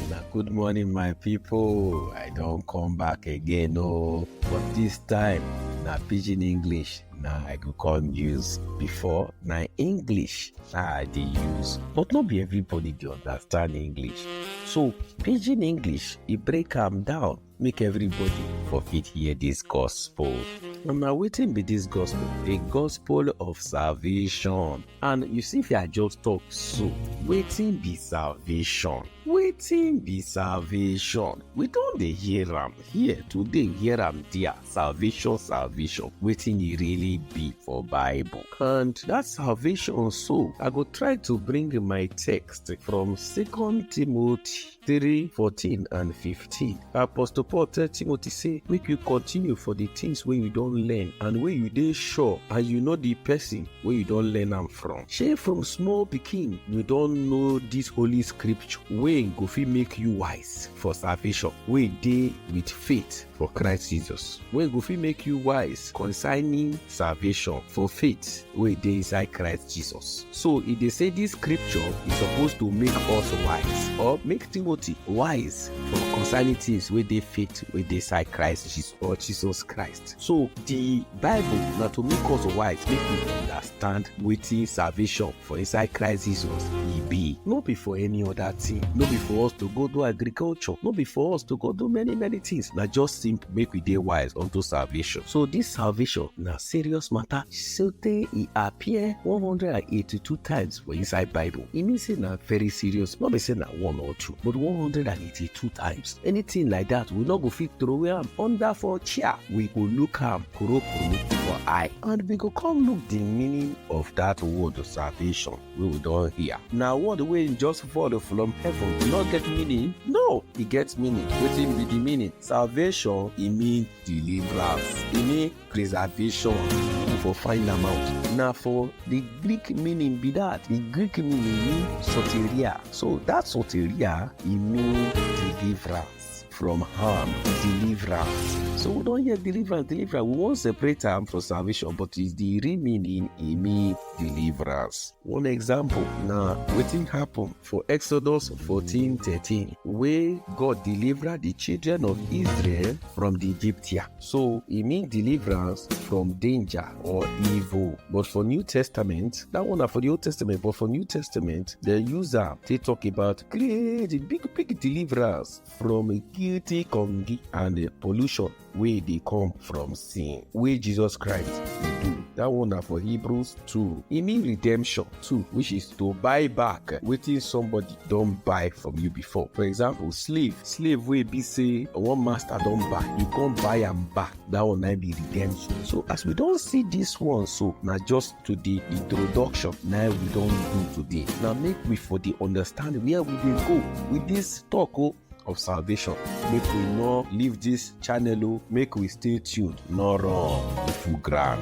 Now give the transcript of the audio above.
Una good morning my people. I don come back again oh. But this time na pidgin English na I go come use. Before na English na I dey use. But no be everybody dey understand English. So pidgin English e break am down make everybody for fit hear this gospel. And now waiting be this gospel, the gospel of salvation. And you see, if I just talk so, waiting be salvation. Waiting be salvation. We don't dey hear am here today, hear am there. Salvation, salvation. Waiting e really be for Bible. And that salvation so, I go try to bring my text from Second Timothy 3 14 and 15 apostle paul tell timothy say make you continue for the things wey you don learn and wey you dey sure and you know the person wey you don learn am from shey from small pikin you don know this holy scripture wey go fit make you wise for salvation wey dey with faith for Christ Jesus wey go fit make you wise concerning salvation for faith wey dey inside Christ Jesus. So e dey say this scripture is supposed to make us wise or make Timothy wise for concerning things wey dey faith wey dey inside Christ Jesus or Jesus Christ. So the Bible na to make us wise make we understand. understand wetin salvation for inside Christ Jesus e be. No be for any other thing. No be for us to go do agriculture. No be for us to go do many many things. Na just simple make we dey wise unto salvation. So this salvation na serious matter sotey e appear 182 times for inside Bible. E mean say na very serious. No be say na one or two but 182 till two times anything like that we no go fit throway am under for chair we go look am kurokuru for eye and we go come look the meaning of that word salvation wey we don hear na word wey just fall from heaven e no get meaning no e get meaning wetin be the meaning salvation e mean deliverance e mean preservation you for find am out na for the greek meaning be that the greek meaning mean soteria so that soteria e mean deliverance from harm deliverance so we don hear deliverance deliverance we wan separate am from salvation but the real meaning e mean deliverance one example na wetin happen For Exodus 14 13, wey God deliver the children of Israel from the Egyptia. So e mean deliverance from danger or evil. But for New Testament, that one na for the Old Testament, but for New Testament, the user they talk about great big big deliverance from guilty congi and pollution. wey dey come from sin wey jesus christ dey do that one na for hebrews 2 e mean redemption too which is to buy back wetin somebody don buy from you before for example slave slave wey be say one master don buy you come buy am back that one na be redemption so as we don see this one so na just to the introduction na we don do today na make we for dey understand where we dey go with this talk o of salvation make we no leave this channel o make we stay tuned no run full ground.